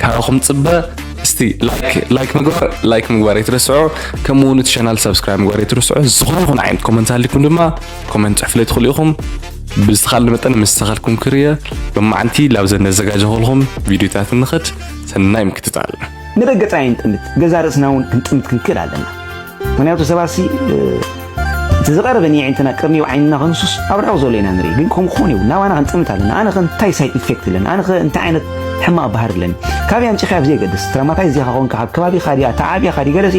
ካባኹም ጽበ እስቲ ላይክ ላይክ ምግባር ላይክ ምግባር ኣይትረስዑ ከምኡ እውን እቲ ቻናል ሰብስክራይብ ምግባር ኣይትረስዑ ዝኾነ ይኹን ዓይነት ኮመንት ሃሊኩም ድማ ኮመንት ጽሑፍለ ትኽእሉ ኢኹም ብዝተኻለ መጠን ምስ ተኻልኩም ክርየ ብማዓንቲ ላብ ዘነዘጋጀኹልኩም ቪድዮታት ንኽድ ሰናይ ምክትታል ንረገጻ የንጥምት ገዛ ርእስና እውን ክንጥምት ክንክእል ኣለና ምክንያቱ ሰባሲ እቲ ዝቐረበ ንየዒንትና ቅርኒው ዓይንና ክንሱስ ኣብ ርሑቕ ዘሎ ኢና ንርኢ ግን ከምኡ ክኾን ይብሉ ናባና ክንጥምት ኣለና ኣነ ከ እንታይ ሳይድ ኢፌክት ኣለኒ ኣነ ከ እንታይ ዓይነት ሕማቕ ባህሪ ኣለኒ ካበይ ኣምጪኻያ ብዘይ ገድስ ትራማታይ እዚኻ ኮንካ ካብ ከባቢኻ ድያ ተዓብያኻ ድዩ ገለሲ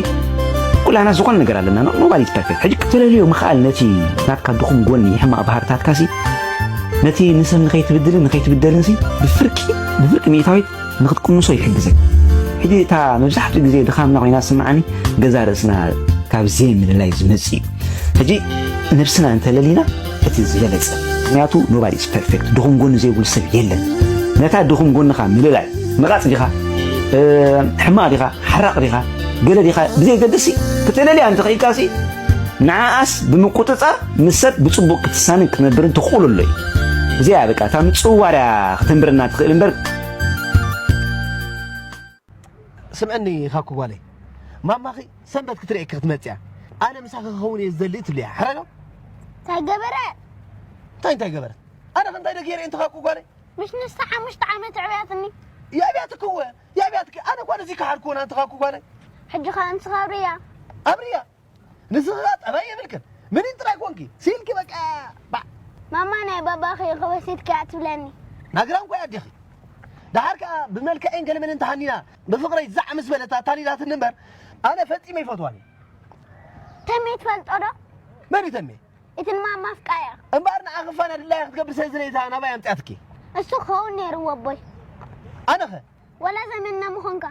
ኩላና ዝኾነ ነገር ኣለና ኖባዲ ፐርፌክት ሕጂ ክትለልዮ ምኽኣል ነቲ ናትካ ድኹም ጎኒ ሕማቕ ባህርታትካሲ ነቲ ንሰብ ንኸይትብድልን ንኸይትብደልን ብፍርቂ ብፍርቂ ሚእታዊት ንክትቅንሶ ይሕግዘካ። ሕጂ እታ መብዛሕትኡ ግዜ ድኻምና ኮይና ዝስምዓኒ ገዛ ርእስና ካብ ዘይምልላይ ዝመጽእ እዩ። ሕጂ ነብስና እንተለሊና እቲ ዝበለጸ ምክንያቱ ኖባዲ ኢዝ ፐርፌክት ድኹም ጎኒ ዘይብሉ ሰብ የለን። ነታ ድኹም ጎንኻ ምልላይ መቓጽ ዲኻ ሕማቕ ዲኻ ሓራቕ ዲኻ ገለ ዲኻ ብዘይገድሲ ክተለልያ እንተኽኢልካሲ ንዓኣስ ብምቁጽጻር ምስ ሰብ ብጽቡቕ ክትሳንን ክትነብርን ተኽእሎ ኣሎ እዩ። እዚኣ በቃ እታ ምጽዋርያ ከተንብረና ትኽእል እምበር ስምዕኒ ኻኩ ጓለይ ማማኺ ሰንበት ክትርእየኪ ክትመፅያ ኣነ ምሳኺ ክኸውን እየ ዝደሊ ትብልያ ሕረዶ እንታይ ገበረ እንታይ እንታይ ገበረ ኣነ ከ እንታይ ደ ገይረ እንተ ኻኩ ጓለይ ምሽ ንስተ ሓሙሽተ ዓመት ዕብያትኒ የዕብያትኪ እወ የዕብያትኪ ኣነ ጓል እዚ ክሓድክዎን ኣንተ ኻኩ ጓለይ ሕጂ ኸ እንስኻ ኣብርያ ኣብርያ ንስኻ ጠባይ የብልክን ምኒን ጥራይ ኮንኪ ሲኢልኪ በቃ ማማ ናይ ባባኺ ክበሲትኪያ ትብለኒ ናግራም ኮይ ኣዴኺ ደሓር ከኣ ብመልክዔን ገለመንን ተሃኒና ብፍቕረይ ዛዕ ምስ በለት ኣታሊላትኒ እምበር ኣነ ፈጺመ ይፈትዋን እየ ተሜ ትፈልጦ ዶ መን እዩ ተሜ እቲ ንማማ ኣፍቃያ እምበኣር ንዓኺ ፋና ድላያ ክትገብር ስለ ዝደለየታ ናባይ ኣምጽኣትኪ እሱ ክኸውን ነይርዎ ኣቦይ ኣነኸ ወላ ዘመድና ምኾንካ።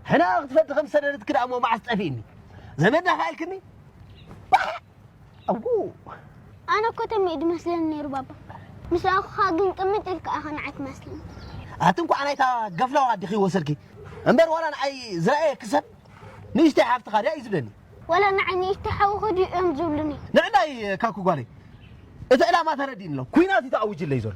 ሕነኣ ክትፈዲ ከም ዝሰደደትኪ ደኣ እሞ መዓስ ጠፊእኒ ዘመድና ከኣ ኢልክኒ ባሕ ኣው ኣነ እኮ ተም እዩ ድመስለኒ ነይሩ ባባ ምስ ረኣኹኻ ግን ቅምጥ ኢልካ ኢኻ ንዓይ ትመስለኒ ኣቲ እንኳዕ ናይታ ገፍላዋ ኣዲኺ ወሰድኪ እምበር ዋላ ንዓይ ዝረኣየ ክሰብ ንእሽተይ ሓፍትኻ ድያ እዩ ዝብለኒ ወላ ንዓይ ንእሽተይ ሓውኺ ድዩ እዮም ዝብሉኒ ንዕዳይ ካኩ ጓለይ እቲ ዕላማ ተረዲእኒ ኣሎ ኩናት እዩ ተኣዊጅለይ ዘሎ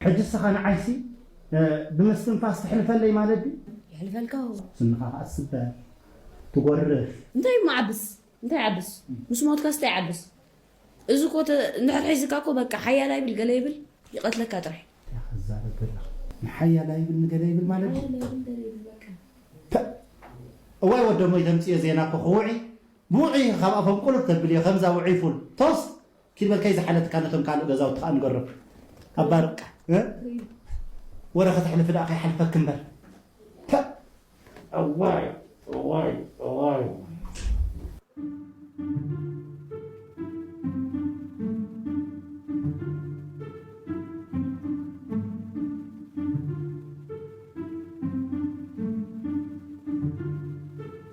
ሕጂ እስኻ ንዓይሲ ብምስትንፋስ ተሕልፈለይ ማለት ድዩ? የሕልፈልካ እዎ። ስንኻ ኸኣ ትስበር፣ ትጎርፍ። እንታይ እሞ ዓብስ እንታይ ዓብስ ምስ ሞትካስ እንታይ ዓብስ እዚ እኮ ተ እንድሕር ሒዝካ እኮ በቃ ሓያል ኣይብል ገለ ይብል ይቀትለካ ጥራይ። እንታይ ኢኻ ትዛረብ ዘለኻ ንሓያል ኣይብል ንገለ ይብል ማለት ድዩ? ሓያል ኣይብል ገለ ይብል በቃ። ፐእ እዋይ ወደሞይ ተምጽዮ ዜና እኮ ክውዒ ብውዑይ ኢኺ ካብ ኣፎም ቁልፍ ተብልዮ ከምዛ ውዑይ ፉል ቶስት ኪድ በል ከይዝሓለትካ ነቶም ካልእ ገዛውቲ ከኣ ንገሮም እባ በቃ ወረ ከተሕልፊ ደኣ ከይሓልፈኪ እምበር ፐእ እዋይ እዋይ እዋይ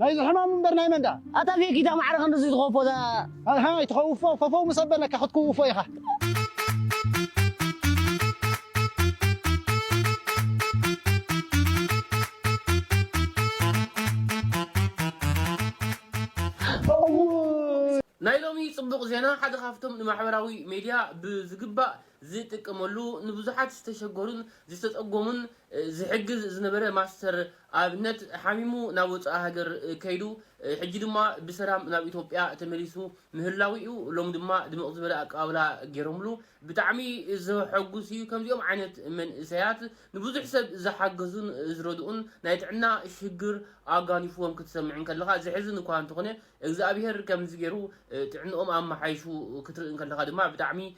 ናይዚ ሕማም እምበር ናይ መን ድኣ። ኣታ ፌኪታ ማዕረ ክንድዚ ትኸውፎ እዛ። ኣሕ ኣይትኸውፎ ፈፈው ምስ ኣበለካ ክትክውፎ ኢኻ። ናይ ሎሚ ጽቡቕ ዜና ሓደ ካብቶም ንማሕበራዊ ሜድያ ብዝግባእ ዝጥቀመሉ ንብዙሓት ዝተሸገሩን ዝተጸገሙን ዝሕግዝ ዝነበረ ማስተር ኣብነት ሓሚሙ ናብ ወጻኢ ሃገር ከይዱ ሕጂ ድማ ብሰላም ናብ ኢትዮጵያ ተመሊሱ ምህላዉ'ዩ ሎሚ ድማ ድምቕ ዝበለ ኣቀባብላ ጌሮምሉ ብጣዕሚ ዘሐጉስ'ዩ ከምዚኦም ዓይነት መንእሰያት ንብዙሕ ሰብ ዝሓገዙን ዝረድኡን ናይ ጥዕና ሽግር ኣጓኒፍዎም ክትሰምዕ እንከለኻ ዘሕዝን እኳ እንተኾነ እግዝኣብሄር ከምዚ ጌሩ ጥዕንኦም ኣማሓይሹ ክትርኢ እንከለኻ ድማ ብጣዕሚ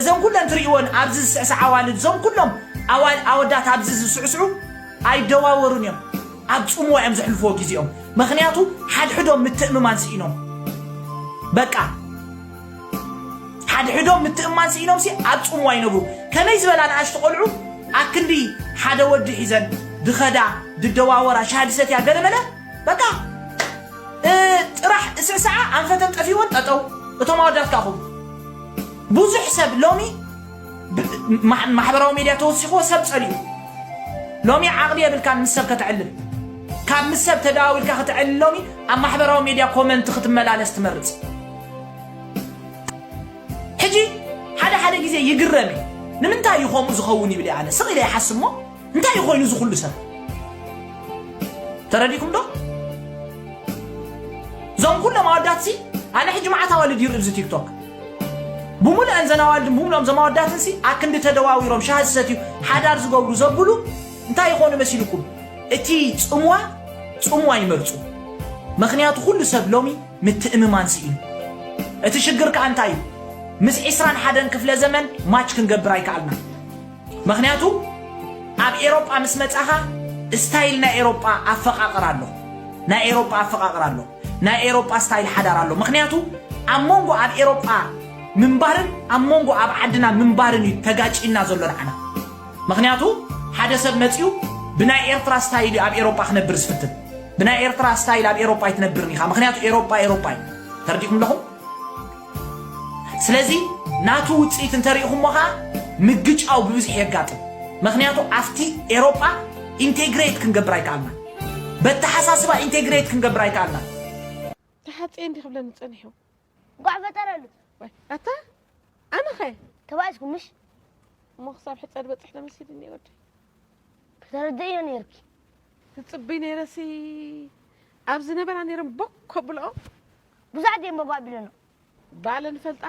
እዘን ኩለን ትሪእወን ኣብዚ ዝስዕስዓ ኣዋልድ እዞም ኩሎም ኣዋል ኣወዳት ኣብዚ ዝስዕስዑ ኣይደዋወሩን እዮም ኣብ ጽምዋ እዮም ዘሕልፍዎ ግዜኦም ምክንያቱ ሓድሕዶም ምትእምማን ስኢኖም በቃ ሓድሕዶም ምትእማን ስኢኖም ሲ ኣብ ጽምዋ ይነብሩ ከመይ ዝበላ ንኣሽቱ ቆልዑ ኣክንዲ ሓደ ወዲ ሒዘን ድኸዳ ድደዋወራ ሻሃ ድሰትያ ገለመለ በቃ እ፣ ጥራሕ እስዕስዓ ኣንፈተን ጠፊወን ጠጠው እቶም ኣወዳት ካኹም ብዙሕ ሰብ ሎሚ ማሕበራዊ ሜድያ ተወሲኽዎ ሰብ ጸሊኡ ሎሚ ዓቕሊ የብልካን ምስ ሰብ ከተዕልል ካብ ምስ ሰብ ተደዋዊልካ ከተዕልል ሎሚ ኣብ ማሕበራዊ ሜድያ ኮመንት ክትመላለስ ትመርጽ ሕጂ ሓደ ሓደ ግዜ ይግረም እዩ ንምንታይ እዩ ከምኡ ዝኸውን ይብል ኣነ ስቕ ኢለ ይሓስብ እሞ እንታይ እዩ ኮይኑ እዚ ኩሉ ሰብ ተረዲኩም ዶ እዞም ኩሎም ኣወዳት ሲ ኣነ ሕጂ መዓት ኣዋልድ ይርኢ እዚ ቲክቶክ ብምሉአን ዘን ኣዋልድ ብምሉኦም እዞም ኣወዳትን ሲ ኣክንዲ ተደዋዊሮም ሻሂ ዝሰትዩ ሓዳር ዝገብሩ ዘብሉ እንታይ ይኾኑ መሲልኩም እቲ ፅምዋ ፅምዋ ይመርፁ ምክንያቱ ኩሉ ሰብ ሎሚ ምትእምማን ስኢኑ እቲ ሽግር ከዓ እንታይ እዩ ምስ ዒስራን ሓደን ክፍለ ዘመን ማች ክንገብር ኣይከኣልና ምኽንያቱ ኣብ ኤሮጳ ምስ መጻኻ ስታይል ናይ ኤሮጳ ኣፈቃቅራ ኣሎ ናይ ኤሮጳ ኣፈቃቅራ ኣሎ ናይ ኤሮጳ ስታይል ሓዳር ኣሎ ምኽንያቱ ኣብ መንጎ ኣብ ኤሮጳ ምንባርን ኣብ መንጎ ኣብ ዓድና ምንባርን እዩ ተጋጭና ዘሎ ንዓና ምኽንያቱ ሓደ ሰብ መጺኡ ብናይ ኤርትራ ስታይል እዩ ኣብ ኤሮጳ ክነብር ዝፍትን ብናይ ኤርትራ ስታይል ኣብ ኤሮጳ ኣይትነብርን ኢኻ ምኽንያቱ ኤሮጳ ኤሮጳ እዩ ተረዲእኩም ኣለኹም ስለዚ ናቱ ውጽኢት እንተ ርኢኹሞ ከኣ ምግጫው ብብዝሒ የጋጥም። መኽንያቱ ኣብቲ ኤሮጳ ኢንቴግሬት ክንገብር ኣይከኣልናን። በተሓሳስባ ኢንቴግሬት ክንገብር ኣይከኣልናን። ተሓጽየ እንዲኽ ክብለኒ ጸኒሑ። እንቋዕ ፈጠረሉ። ወይ ኣታ ኣነኸ ተባኢስኩም ምሽ እሞ ክሳብ ሕጸድ በጽሕ ተመሲልኒ ወደይ ከተረድእዮ ነይርኪ ትጽብይ ነይረሲ ኣብ ዝነበራ ነይሮም ቦክ ከብልኦ ብዙሕ ድየ እምበባ ኣቢለኖ። ባለ ንፈልጣ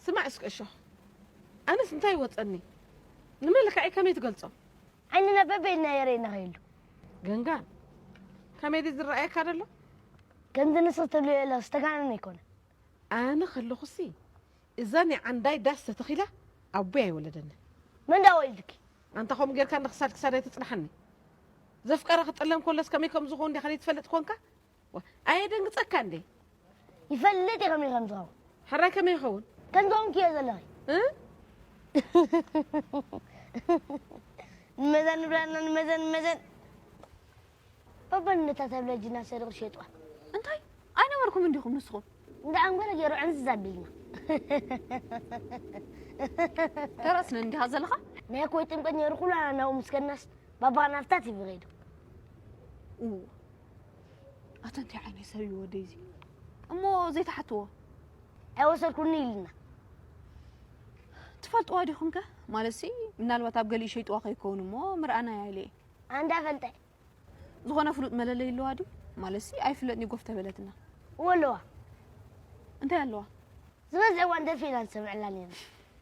ስማዕ እስከ እሾኽ ኣነስ እንታይ ይወፀኒ ንመልክዐይ ከመይ ትገልፆ። ዓይንና በበይ ኢልና የረይ ንኸይሉ። ገንጋን ከመይ ድዩ ዝረኣየካ ደሎ። ከምዚ ንስኽ ትብልዮ ዘለኺ ዝተጋነነ ኣይኮነን። ኣነ ከለኹሲ እዛ ናይ ዓንዳይ ዳስ ተተኺላ ኣቦይ ኣይወለደንን። መን ድኣ ወሊድኪ። ኣንታ ከምኡ ጌርካ እንዳ ክሳድ ክሳደይ ተጽንሓኒ ዘፍቀረ ክጥለም ከሎስ ከመይ ከም ዝኸውን ዲኻ ዘይትፈልጥ ኮንካ ኣየደንግጸካ እንዴ? ይፈልጥ እየ ከመይ ከም ዝኸውን። ሕራይ ከመይ ይኸውን? ከም ዝዀንኪ እየ ዘለኺ። ንመዛን ንብላና ንመዘን ንመዘን ባባን ነታ ተብለጅና ሰሪቑ ሸይጡዋ። እንታይ ኣይነበርኩምን ዲኹም ንስኹም? እንዳ ሓንጎለ ገይሩ ዕንዝዝ ኣቢልና። ተረስ እንዲኻ ዘለኻ? ናይ ኮይ ጥምቀት ነይሩ ኩላና ናብኡ ምስ ከድናስ ባባ ናፍታ ቲቪ ከይዱ። ኣታ እንታይ ዓይነት ሰብ እዩ ወደይ እዚ እሞ ዘይትሓትዎ ኣይወሰድኩኒ ኢልና ትፈልጥዋ ዲኹም ከ ማለት ሲ ምናልባት ኣብ ገሊኡ ሸይጥዋ ከይከውን እሞ ምርኣናያ ኢለ እየ ኣንዳ ፈልጠ ዝኾነ ፍሉጥ መለለይ ኣለዋ ድዩ ማለት ሲ ኣይፍለጥኒ ጎፍ ተበለትና እዎ ኣለዋ እንታይ ኣለዋ ዝበዝሐ እዋን ደፊእና ንሰምዐላ ነርና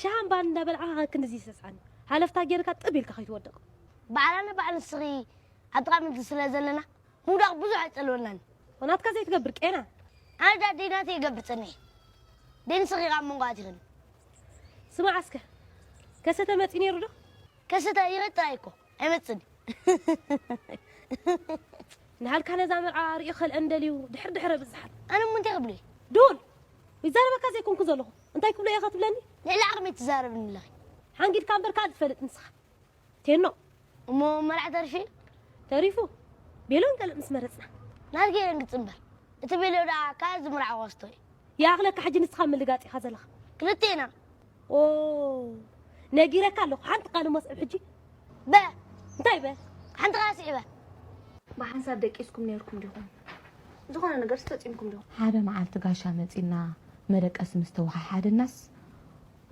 ሸሃን ባን እንዳበልዓኻ ክንድዚ ሰስዓን ሃለፍታ ጌርካ ጥብ ኢልካ ከይትወድቕ። ባዕላ ንባዕ ንስኺ ኣብ ጥቓ ምድሪ ስለ ዘለና ምውዳቕ ብዙሕ ኣይጸልወናን። ናትካ ዘይትገብር ቄና። ኣነ ድኣ ደይ ናተይ ይገብር ጸኒሐ ደይ ንስኺ ከኣ ኣብ መንጎ ኣቲኽኒ። ስማዕ እስከ ከሰተ መጺኡ ኔሩ ዶ? ከሰተ ይቕጽል ኣይኮ። ኣይመጽን ንሃልካ ነዛ መርዓ ሪኡ ከልአን ደልዩ ድሕር ድሕር ኣብዝሓል ኣነ እሞ እንታይ ክብሎ ዱል ይዛረበካ ዘይኮንኩ ዘለኹ እንታይ ክብሎ እየ ከትብለኒ ልዕሊ ዓቕመይ ትዛረብኒ ኣለኺ ሓንጊድካ እምበር ካል ትፈልጥ ንስኻ ቴኖ እሞ መርዓ ተሪፉ ተሪፉ ቤሎን ገለ ምስ መረጽና ናት ገይረን ግጽምበር እቲ ቤሎ ደኣ ካል ዝምርዓዋ ስቶ እዩ ይኣኽለካ ሕጂ ንስኻ ምልጋጥ ኢኻ ዘለኻ ክልቴና ኦው ነጊረካ ኣለኩ ሓንቲ ቃል እሞ ስዕብ ሕጂ። በእ እንታይ በእ ሓንቲ ቃል ስዒበ። ብሓንሳብ ደቂስኩም ኔርኩም ዲኹም? ዝኾነ ነገርስ ፈጺምኩም ዶ? ሓደ መዓልቲ ጋሻ መጺና መደቀሲ ምስ ተወሓሓደናስ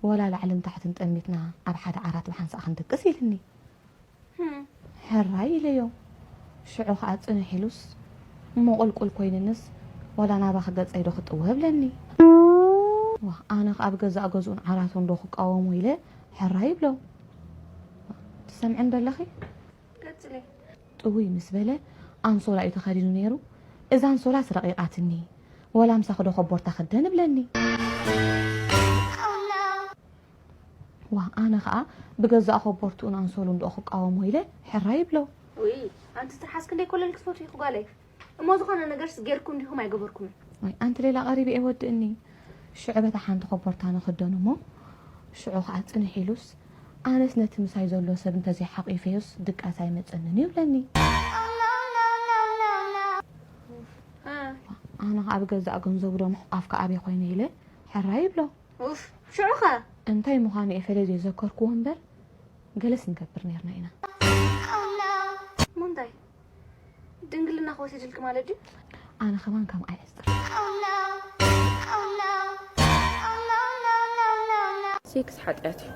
ወላ ላዕልን ታሕትን ጠሚትና ኣብ ሓደ ዓራት ብሓንሳእ ክንድቅስ ኢልኒ። ሕራይ ኢለዮ። ሽዑ ኸኣ ጽንሕ ኢሉስ እሞ ቁልቁል ኮይንንስ ዋላ ናባኺ ገጸይዶ ክጥወ እብለኒ። ዋእ ኣነኸ ኣብ ገዛእ ገዝኡን ዓራቱንዶ ክቃወሞ ኢለ ሕራይ እብሎ። ትሰምዕንዶ ኣለኺ? ቀጽሊ። ጥውይ ምስ በለ ኣንሶላ እዩ ተኸዲኑ ነይሩ። እዛ ኣንሶላስ ረቒቓትኒ፣ ዋላ ምሳኺዶ ኮቦርታ ክደን እብለኒ። ዋእ ኣነ ከኣ ብገዛእ ኾቦርትኡን ኣንሶሉን ዶኦ ክቃወሞ ኢለ ሕራይ ይብሎ። ውይ ኣንቲ ትርሓስ ክንደይ ኮለል ክትፈትዊኺ ጓለይ እሞ ዝኾነ ነገርስ ጌርኩም ዲኹም ኣይገበርኩምን። ዋይ ኣንቲ ሌላ ቀሪቢ እየ ወድእኒ ሽዑ በታ ሓንቲ ኾቦርታ ንኽደኖ እሞ ሽዑ ከኣ ጽንሕ ኢሉስ ኣነስ ነቲ ምሳይ ዘሎ ሰብ እንተዘይ ሓቂፈዮስ ድቃስ ኣይመጸንን እዩ ይብለኒ። ዋእ ኣነ ከኣ ብገዛእ ገንዘቡ ዶ ምሕቋፍ ከኣበይ ኾይነ ኢለ ሕራይ ይብሎ። ኡፍ ሽዑ ከ እንታይ ምዃኑ እየ ፈለልየ ዘከርክዎ እምበር ገለስ ንገብር ኔርና ኢና። ምንታይ ድንግልናኺ ወሲድልኪ ማለት ድዩ? ኣነ ከማን ከም ኣይዕጽር። ሴክስ ሓጥያት እዩ።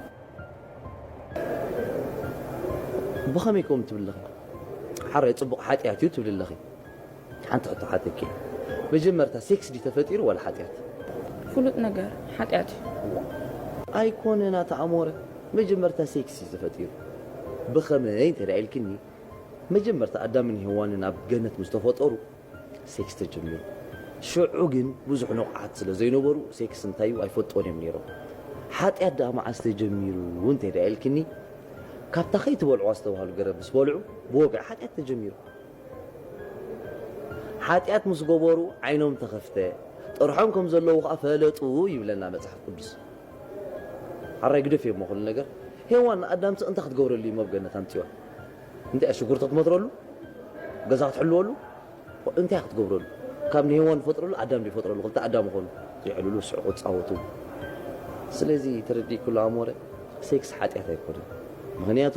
ብኸመይ ከምኡ ትብሊ ኣለኺ? ሓራይ ጽቡቕ ሓጥያት እዩ ትብሊ ኣለኺ። ሓንቲ ሕቶ ሓተኪ መጀመርታ ሴክስ ድዩ ተፈጢሩ ዋላ ሓጥያት? ፍሉጥ ነገር ሓጥያት እዩ። እዋእ ኣይኮነን ኣቲ ኣሞረ መጀመርታ ሴክስ እዩ ተፈጢሩ ብኸመይ እንተ ኢልክኒ መጀመርታ ኣዳምን ሄዋንን ኣብ ገነት ምስ ተፈጠሩ ሴክስ ተጀሚሩ ሽዑ ግን ብዙሕ ንቑሓት ስለ ዘይነበሩ ሴክስ እንታይ እዩ ኣይፈልጥዎን እዮም ኔሮም ሓጥያት ደኣ መዓስ ተጀሚሩ እንተ ኢልክኒ ካብታ ከይትበልዑዋ ዝተባህሉ ገረብ ምስ በልዑ ብወግዒ ሓጥያት ተጀሚሩ ሓጢኣት ምስ ገበሩ ዓይኖም ተኸፍተ፣ ጥርሖም ከም ዘለዉ ኸኣ ፈለጡ ይብለና መጽሓፍ ቅዱስ። ሓራይ ግደፍዮ እሞ ኩሉ ነገር። ሄዋን ንኣዳምሲ እንታይ ክትገብረሉ እሞ ኣብ ገነት ኣምጺዋ? እንታይ እያ ሽጉርቲ ክትመትረሉ? ገዛ ክትሕልወሉ? እንታይ እያ ክትገብረሉ? ካብ ንሄዋን ዝፈጥረሉ ኣዳም ድዩ ዝፈጥረሉ? ክልተ ኣዳም ኾኑ። ይዕልሉ፣ ይስሕቁ፣ ይጻወቱ። ስለዚ ተረዲእክሉ ኣሞረ፣ ሴክስ ሓጢኣት ኣይኮነን። ምኽንያቱ።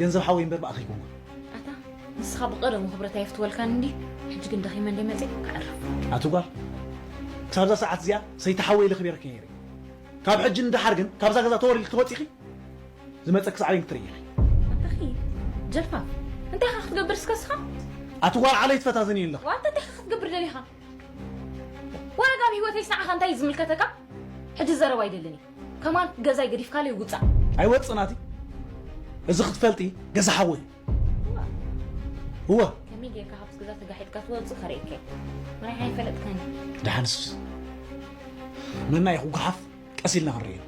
ገንዘብ ሓወይ እምበር ብኣኻ ኣይኮንኩን። ኣታ ንስኻ ብቐደሙ ክብረት ኣየፍትወልካን እንድዩ ሕጂ ግን ደኺመ እንድየ መጽየ ከዕርፍ። ኣቲ ጓል ክሳብ እዛ ሰዓት እዚኣ ሰይቲ ሓወይ ኢለ ኣኽቢረኪ ነይረ ካብ ሕጂ ንደሓር ግን ካብዛ ገዛ ተወር ኢልኪ ተወጺኺ ዝመጸኪ ሳዕቤን ክትርእይ ኢኺ። ኣታኺ ጀልፋፍ እንታይ ኢኻ ክትገብር እስከ እስኻ። ኣቲ ጓል ዓለይ ትፈታትንይ ኣለኺ። ዋይ ኣታ እንታይ ኢኻ ክትገብር ደሊኻ ወረግ ኣብ ሂወተይስ ንዓኻ እንታይ እዩ ዝምልከተካ ሕጂ ዘረባ ኣይደልን እዩ። ከማን ገዛይ ገዲፍካለይ ውጻእ። ኣይወጽእ ናቲ እዚ ክትፈልጢ ገዛ ሓወይ እዩ እወ ከመይ ጌርካ ካብቲ ገዛ ተጋሒጥካ ትወጽእ ከርእየካ እዩ ናይ ኣይፈለጥካኒ ድሓንስ መና እዩ ክጓሓፍ ቀስ ኢልና ክንርኢ ኢና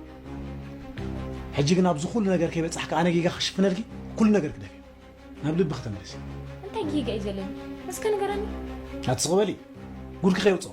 ሕጂ ግን ኣብዚ ኩሉ ነገር ከይበጻሕካ ኣነ ጌጋ ክሽፍነልኪ ኩሉ ነገር ክደፍ እዩ ናብ ልቢ ክተመለሲ እንታይ ጌጋ እዩ ዘለኒ እስከ ንገረኒ ኣትስቕበሊ ጉድኪ ከይውጽኦ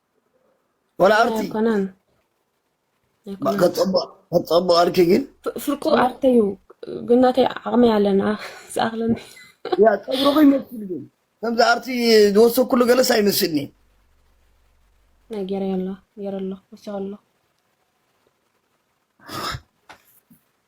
ወላ ኣርቲ ኣይኮነን ኣይኮነን ከጸብቕ ከጸብቕ ኣርኪ ግን ፍ- ፍርቁ ኣርተዩ ግን ናተይ ዓቕሚ ኣለና ዝኣኽለኒ ያ ጸጉርኺ ይመስል ግን ከምዚ ኣርቲ ዝወሰኩሉ ገለስ ኣይመስልኒ ናይ ገይረ ኣሎ ገይረ ኣሎ ወሲኹ ኣሎ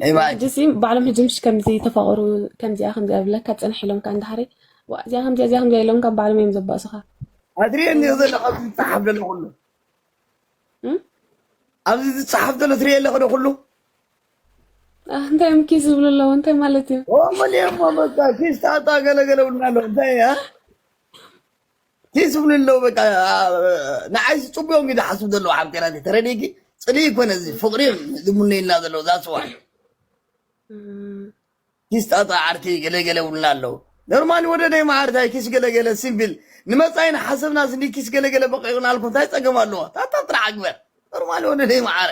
ናይ ጅሲ ባዕሎም ሕጂ ምሽ ከምዚ ተፋቕሩ ከምዚኣ ከምዚኣ ብለካ ፅንሕ ኢሎም ካ እንዳሃሪ እዚኣ ከምዚኣ እዚኣ ከምዚኣ ኢሎም ካብ ባዕሎም እዮም ዘባእሱኻ ኣድርየ እኒኦ ዘለካ ኣብዚ ዝፀሓፍ ዘሎ ኩሉ ኣብዚ ዝፀሓፍ ዘሎ ትሪኦ ኣለኸ ዶ ኩሉ እንታይ እዮም ኪስ ዝብሉ ኣለዎ እንታይ ማለት እዩ ኦመልየሞ በቃ ኪስ ጣጣ ገለገለ ብልና ኣለዉ እንታይ ታይ ዝብሉ ኣለዉ በቃ ንዓይ ዝፅቡዮም እዩ ዝሓስቡ ዘለዉ ሓፍቴናተይ ተረዲኪ ፅልኢ ይኮነ እዚ ፍቅሪ እዮም ዝምነዩልና ዘለዉ ዛፅዋ ኪስ ጣጣ ዓርኪ ገለገለ ውልና ኣለዉ ኖርማሊ ወደደይ መዓርታይ ኪስ ገለገለ ሲምፕል ንመፃኢ ንሓሰብና ስኒ ኪስ ገለገለ በቂቕና ኣልኩም እንታይ ፀገም ኣለዎ ታታ ጥራሕ ኣግበር ኖርማሊ ወደደይ መዓረ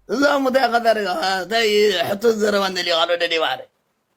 እዛ ሙታይ ከታርጋ ታይ ሕቶ ዘረባ ንደልዮ ካልኦ ደደይ መዓረ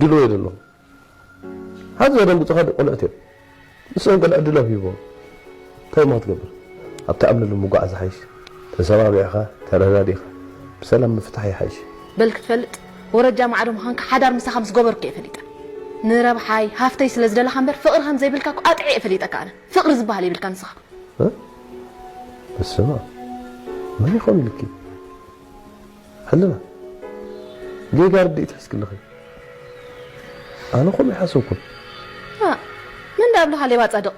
ድሎ እየ ዘሎ ሓንቲ ዘደንግጹኻ ዶ ቆልዑት እዮም ንሶም ገለ ዕድሎም ሂቦም እንታይ እሞ ክትገብር ኣብ ተኣምነሉ ምጓዓዝ ዝሓይሽ ተሰማሚዕኻ ተረዳዲእኻ ብሰላም ምፍታሕ ይሓይሽ። በል ክትፈልጥ ወረጃ ማዕዶ ምዃንካ ሓዳር ምሳኻ ምስ ገበርኩ እየ ፈሊጠ ንረብሓይ ሃፍተይ ስለ ዝደለኻ እምበር ፍቕሪ ከም ዘይብልካ እኮ ኣጥዕየ እየ ፈሊጠካ ኣነ ፍቕሪ ዝብሃል የብልካ ንስኻ በስመኣብ መን ይኾን ኢሉኪ ሕልና ጌጋ ርድኢት ሒዝኪ ኣለኺ ኣነ ከምኡ ኣይሓሰብኩን። ኣእ መን ድኣ ኣብልካ ሌባ ጻድቅ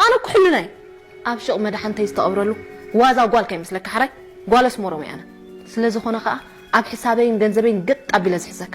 ኣነ እኮ ሕልና እየ ኣብ ሽቅ መዳሓንተይ ዝተቀብረሉ ዋዛ ጓል ከይመስለካ ሕራይ ጓል ኣስሞሮም እየ ኣነ ስለ ዝኮነ ከኣ ኣብ ሕሳበይን ገንዘበይን ገጥ ኣቢለ ዝሕዘካ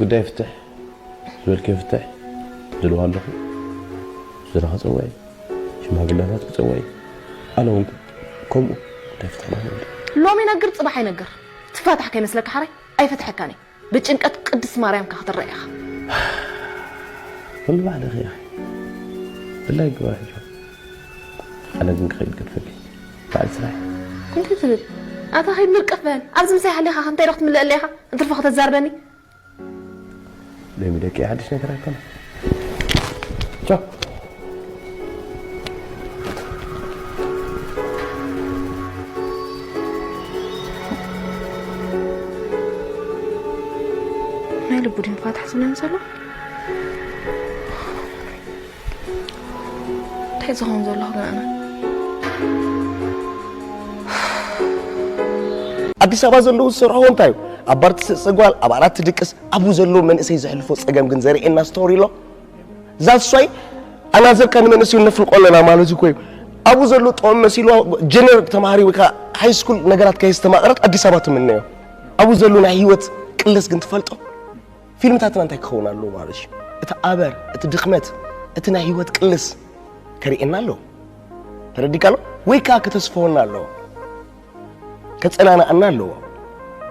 ጉዳይ ፍትሕ ዝበልክዮ ፍትሕ ድልዋ ኣለኹ ዝራ ክፀውዐ ሽማግለታት ክፀውዐ ኣነ እውን ከምኡ ጉዳይ ፍትሕ ንክንብል ሎሚ ይነግር ፅባሕ ኣይነግር ትፋታሕ ከይመስለካ ሓራይ ኣይፈትሐካን እየ ብጭንቀት ቅድስት ማርያምካ ክትረእ ኢኻ ኩሉ ባዕልኺ ኢኺ ብላይ ግበር ሕጂ ኣነ ግን ክኸይድ ገድፈኪ በዓል ስራይ። እንታይ ትብል ኣታ ከይድ ምርቅፍ በል ኣብዚ ምሳይ ሃሊካ ከ እንታይ ዶ ክትምለእ ኣለካ እንትርፎ ከተዛርበኒ። ሎሚ ደቂ ሓድሽ ነገር ኣይኮነን ቻው። ናይ ልቡ ድንፋታ ዝብለን ዘሎ እንታይ ዝኸውን ዘለኹ ግን ኣነ። ኣዲስ ኣበባ ዘለዉ ዝሰርሕዎ እንታይ እዩ ኣብ ባር ትስእሲ ጓል ኣብ ኣራት ትድቅስ ኣብኡ ዘለዉ መንእሰይ ዘሕልፎ ፀገም ግን ዘርእየና ስቶሪ ኣሎ ዛሷይ ኣናዘርካ ንመንእሰዩ ነፍልቆ ኣለና ማለት እኮ እዩ ኣብኡ ዘሎ ጥዑም መሲልዋ ጀነር ተማሃሪ ወይ ከዓ ሃይስኩል ነገራት ከየስተማቕረት ኣዲስ ኣበባ ትምነዮ ኣብኡ ዘሎ ናይ ህይወት ቅለስ ግን ትፈልጦ ፊልምታትና እንታይ ክኸውን ኣለዎ ማለት እዩ እቲ ኣበር እቲ ድኽመት እቲ ናይ ህይወት ቅልስ ከርእየና ኣለዎ ተረዲካ ኣሎ ወይ ከዓ ከተስፈወና ኣለዎ ከፀናናኣና ኣለዎ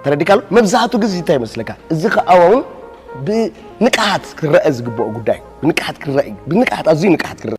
ተረዲካ ኣሎ መብዛሕቱ ግዜ እንታይ ይመስለካ እዚ ከዓ እውን ብንቅሓት ክረአ ዝግብኦ ጉዳይ ብንቅሓት ክረአ ብንቅሓት ኣዝዩ ንቅሓት ክረአ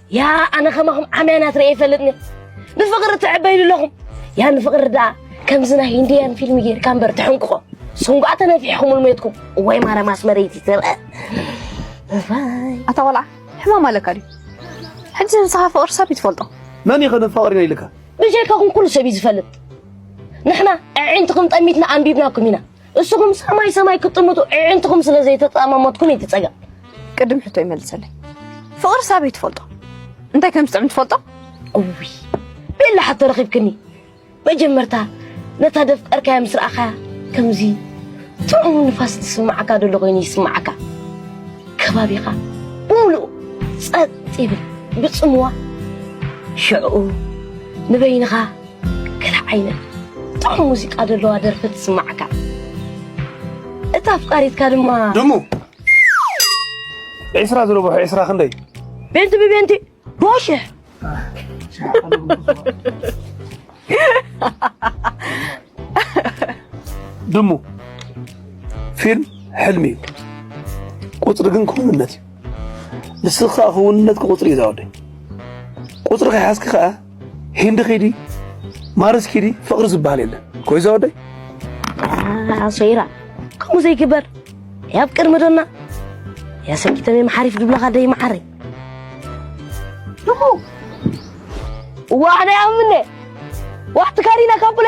ያ ኣነ ከማኹም ዓምያናት ርእየ ይፈልጥኒ ንፍቕሪ ትዕበይሉ ኣለኹም ያ ንፍቕሪ ደኣ ከምዚ ናይ ሂንድያን ፊልሚ ጌርካ እምበር ትሕንቅቆ ስንጓ ተነፊሕኹም ልሜትኩም እዋይ ማርያም ኣስመረይቲ ትርአ ኣታ ቆልዓ ሕማም ኣለካ ድዩ ሕጂ ንስኻ ፍቕሪ ሰብ እዩ ትፈልጦ መን ይኸ ንፍቕሪ ኢና ኢልካ ብጀካኹም ኩሉ ሰብ እዩ ዝፈልጥ ንሕና ኣዒንትኹም ጠሚትና ኣንቢብናኩም ኢና እስኹም ሰማይ ሰማይ ክትጥምቱ ዕዕንትኹም ስለ ዘይተጻማሞትኩም እዩ ትጸገም ቅድም ሕቶ ይመልሰለይ ፍቕሪ ሳበይ ትፈልጦ እንታይ ከም ዝጥዕም ትፈልጦ እውይ ቤላ ሕቶ ረኺብክኒ መጀመርታ ነታ ደፍቀርካያ ምስ ረኣኻያ ከምዚ ጥዑም ንፋስ ዝስምዓካ ደሎ ኮይኑ ይስምዓካ ከባቢኻ ብምሉኡ ጸጥ ይብል ብጽምዋ ሽዕኡ ንበይንኻ ገለ ዓይነት ጥዑም ሙዚቃ ዘለዋ ደርፊ ትስማዕካ እታ ኣፍቃሪትካ ድማ ደሞ ዕስራ ዝረብሑ ዕስራ ክንደይ ቤንቲ ብቤንቲ ቦሽሕ ድሙ ፊልም ሕልሚ እዩ፣ ቁፅሪ ግን ክውንነት እዩ። ንስኻ ክውንነት ቁፅሪ እዩ ዛወደይ ቁፅሪ ከይሓዝኪ ከዓ ሂንዲ ኪዲ ማርስ ኪዲ ፍቅሪ ዝበሃል የለን ኮይዞ ወደይ ኣሶይራ ከምኡ ዘይግበር ያብ ቅድሚ ዶና ያሰኪተመ መሓሪፍ ድብለኻ ደይ መዓረይ እዋ ኣነ ኣምነ ዋሕቲ ካሪና ካቡለ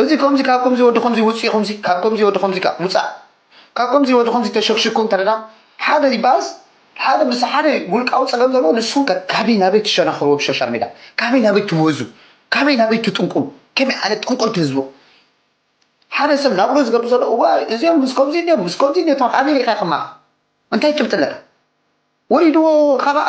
እዚ ከምዚ ካብ ከምዚ ወዲ ከምዚ ውጽ ከምዚ ካብ ከምዚ ወዲ ከምዚ ካብ ውጻእ ካብ ከምዚ ወዲ ከምዚ ተሸክሽኩ እንተ ሓደ ይበሃልስ ሓደ ምስ ሓደ ውልቃዊ ጸገም ዘለዎ ንስኩም ከ ካበይ ናበይ ትሸናክርዎ ብ ሾሻል ሜዳ ካበይ ናበይ ትወዙ ካበይ ናበይ ትጥንቁሉ ከመይ ዓይነት ጠንቆልቲ ህዝቢ ሓደ ሰብ ናብርኡ ዝገብር ዘሎ እዋይ እዚኦም ምስ ከምዚ እንዲዮም ምስ ከምዚ እንዲዮ ትብል ኣበይ ሪኢካ ኢካ ከማካ እንታይ ጭብጢ ኣለካ ወሪድዎ ካባኣ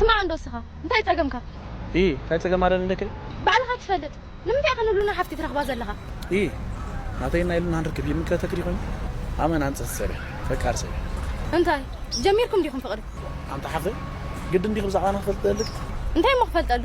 ስማዕ እንዶ እስኻ እንታይ ጸገምካ? እይ እንታይ ጸገም ኣለኒ ደኪ? ባዕልኻ ትፈልጥ ንምንታይ ኢኻ ንሉና ሓፍቲ ትረኽባ ዘለኻ? እይ ናተይን ናይ ሉናን ርክብ ይምልከተኪ ዲዩ ኮይኑ? ኣመና ኣንጸቲ ሰብ እያ ፈቃር ሰብ እያ። እንታይ ጀሚርኩም ዲኹም ፍቕሪ? ኣንቲ ሓፍተይ ግድን ዲኺ ብዛዕባና ክፈልጥ ደለኪ? እንታይ እሞ ክፈልጠሉ?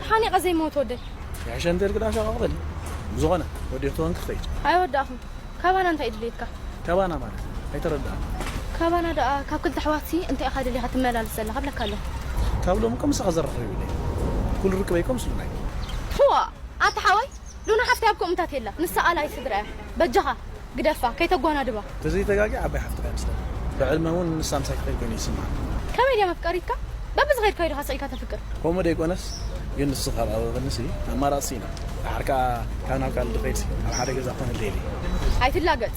ተሓኒቐ ዘይመውት ወደይ ይሕሸ እንተልኪ ድኣ ሸቃቕተኒ ብዝኾነ ወዲኺ ተኾንኪ ክኸይድ ኣይወዳእኹን ካባና እንታይ እዩ ድልየትካ ካባና ማለት ኣይተረድኣን ካባና ድኣ ካብ ክልተ ኣሕዋትሲ እንታይ ኢኻ ደሊኻ ትመላልስ ዘለኻ ብለካ ኣለኹ ካብ ሎሚ እኮ ምሳኻ ዘራኽብ የብለይን ኩሉ ርክበይ እኮ ምስ ሉናይ ፕዋ ኣታ ሓወይ ሉና ሓፍተይ ኣብ ኮምታት የላ ንሳ ኣላይ ስድራ እያ በጃኻ ግደፋ ከይተጓናድባ። ተዘይ ተጋግየ ዓባይ ሓፍትና እያ መስለኒ ብዕድመ ውን ንሳ ምሳይ ትከይድ ኮይኑ ይስማዓኒ። ከመይ ድያ መፍቀሪትካ በቢ ዝከድካዮ ዲካ ስቂልካ ተፍቅር። ኮሙ ደይኮነስ ግን ንሱ ካብ ኣብበኒ ሲ ኣማራጺ ሲኢና ዳሓር ካኣ ካብ ናብ ካልእ ድከይድ ሲ ኣብ ሓደ ገዛ ክኮነለይ ደልየ። ኣይትላገጽ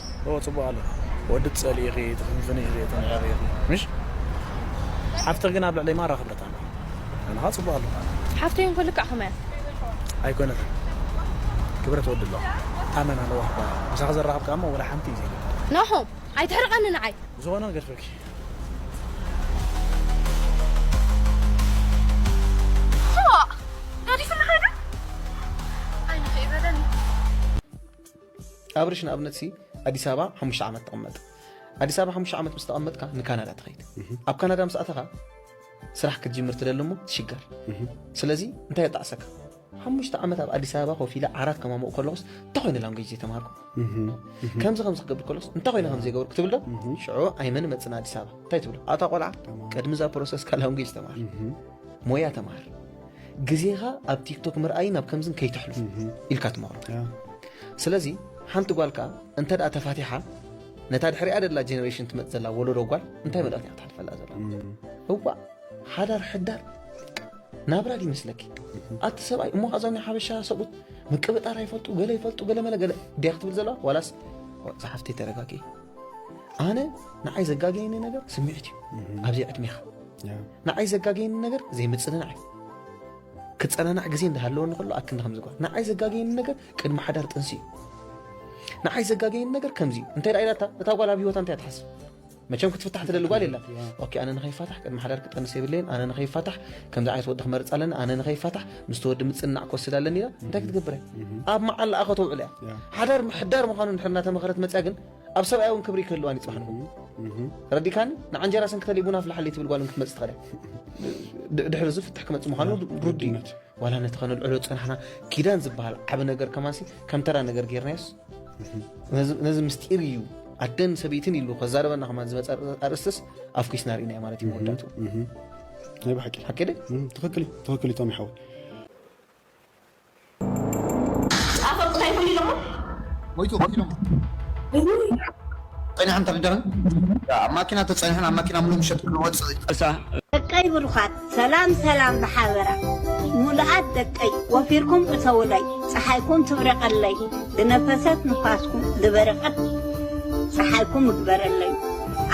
እወ ጽቡቅ ኣሎ ወዲ ትጸልኢ ኢኺ ትፍንፍኒ ኢኺ ተንዕቂ ኢኺ ምሽ ሓፍትኺ ግን ኣብ ልዕለይ ማራ ክብረት ኣለዋ ኣነ ከኣ ጽቡቅ ኣሎ ሓፍተይ እንኮ ልክዕ ከማያ ኣይኮነትን ክብረት ወዲ ኣለዋ ታመና ለዋህ ጓል ምሳኺ ዘራኽብ ከኣ እሞ ወላ ሓንቲ እዩ ዘይብላ ናሆም ኣይትሕርቀኒ ንዓይ ዝኾነ ንገድፈኪ ኣብርሽ ንኣብነት ሲ ኣዲስ ኣበባ ሓሙሽተ ዓመት ተቐመጥ ኣዲስ ኣበባ ሓሙሽተ ዓመት ምስ ተቐመጥካ ንካናዳ ትኸይድ ኣብ ካናዳ ምስ ኣተኻ ስራሕ ክትጅምር ትደሊ እሞ ትሽገር ስለዚ እንታይ የጣዕሰካ ሓሙሽተ ዓመት ኣብ ኣዲስ ኣበባ ኮፍ ኢለ ዓራት ከማምኡ ከለኹስ እንታይ ኮይነ ላንጉጅ ዘይተማሃርኩ ከምዚ ከምዚ ክገብር ከለኹስ እንታይ ኮይነ ከም ዘይገበርኩ ትብል ዶ ሽዑ ኣይመን መፅና ኣዲስ ኣበባ እንታይ ትብሎ ኣታ ቆልዓ ቅድሚ እዛ ፕሮሰስካ ላንጉጅ ተማሃር ሞያ ተማሃር ግዜኻ ኣብ ቲክቶክ ምርኣይን ኣብ ከምዝን ከይተሕልፉ ኢልካ ትመኽሮ ስለዚ ሓንቲ ጓል ከዓ እንተ ተፋቲሓ ነታ ድሕሪኣ ደላ ጀኔሬሽን ትመፅ ዘላ ወለዶ ጓል እንታይ መልእኽቲ እያ ትሓልፈላ ዘላ እዋ ሓዳር ሕዳር ናብራ ድዩ መስለኪ ኣቲ ሰብኣይ እሞ ካዞም ሓበሻ ሰብኡት ምቅብጣር ኣይፈልጡ ገለ ይፈልጡ ገለ መለ ገለ ድያ ክትብል ዘለዋ ዋላስ ዝሓፍተይ ተረጋጊ ኣነ ንዓይ ዘጋገየኒ ነገር ስምዒት እዩ ኣብዚ ዕድሜኻ ንዓይ ዘጋገየኒ ነገር ዘይምጽንናዕ እዩ ክጸናናዕ ግዜ እንዳሃለወኒ ከሎ ኣክንዲ ከምዚ ጓል ንዓይ ዘጋገየኒ ነገር ቅድሚ ሓዳር ጥንሲ እዩ ንዓይ ዘጋገየኒ ነገር ከምዚ እዩ እንታይ ደኣ ኢላታ እታ ጓል ኣብ ሂወታ እንታይ ትሓስብ መቸም ክትፍታሕ ትደሊ ጓል የላ ኦኬ ኣነ ንኸይፋታሕ ቅድሚ ሓዳር ክጠንስ የብለየን ኣነ ንኸይፋታሕ ከምዚ ዓይነት ወዲ ክመርፅ ኣለኒ ኣነ ንኸይፋታሕ ምስቲ ወዲ ምፅናዕ ክወስድ ኣለኒ ኢላ እንታይ ክትገብር እያ ኣብ መዓላኣ ከተውዕል እያ ሓዳር ምሕዳር ምዃኑ ንድሕር እናተመኸረት መፅያ ግን ኣብ ሰብኣይ እውን ክብሪ ክህልዋን ይፅባሕ ረዲካኒ ንዓንጀራ ሰንክተለይ ቡና ፍላሓለይ ትብል ጓል ክትመፅእ ትኽእል ድሕሪ እዚ ፍትሕ ክመፅእ ምዃኑ ርዱ እዩ ዋላ ነቲ ከነልዕሎ ፀናሕና ኪዳን ዝበሃል ዓብ ነገር ከማሲ ከም ተራ ነገር ጌርናዮስ ነዚ ምስጢር እዩ ኣደን ሰበይትን ኢሉ ከዛረበና ከማ ዝመፀ ኣርእስትስ ኣፍኪስና ርኢናዮ ማለት እዩ መወዳቱ ናይ ብሓቂ ሓቂ ትኽክል ትኽክል እዩ ቶም ይሓወይ ደቀይ ብሩኻት ሰላም ሰላም ብሓበራ ምሉኣት ደቀይ ወፊርኩም እተዉለይ ፀሓይኩም ትብረቀለይ ድነፈሰት ንፋስኩም ድበረቀት ፀሓይኩም እግበረለይ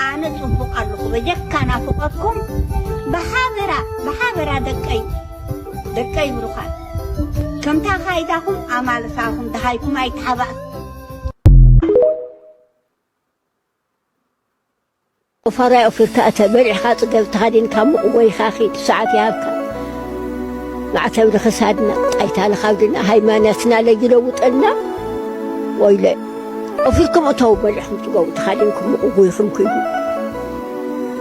ኣነ ፅቡቅ ኣለኹ በጀካ ናፍቆትኩም ብሓበራ ብሓበራ ደቀይ ደቀይ ብሩኻት ከምቲ ኣኻይዳኹም ኣማልታኹም ደሃይኩም ኣይተሓባእኩም። ቁፋሮይ ኣውፊርካ እተው በሊዕኻ ጽገብ ተኻዲንካ ሙቕ ጎይኻ ኺድ ሰዓት ይሃብካ ማዕተብ ንኽሳድና ጣይታ ንኻብድና ሃይማኖትና ለይለውጠልና ወይለ ኣውፊርኩም እተው በሊዕኹም ጽገቡ ተኻዲንኩም ሙቕ ጎይኹም ኪዱ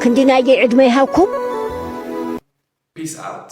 ክንዲ ናይገይ ዕድመ ይሃብኩም ፒስ ኣውት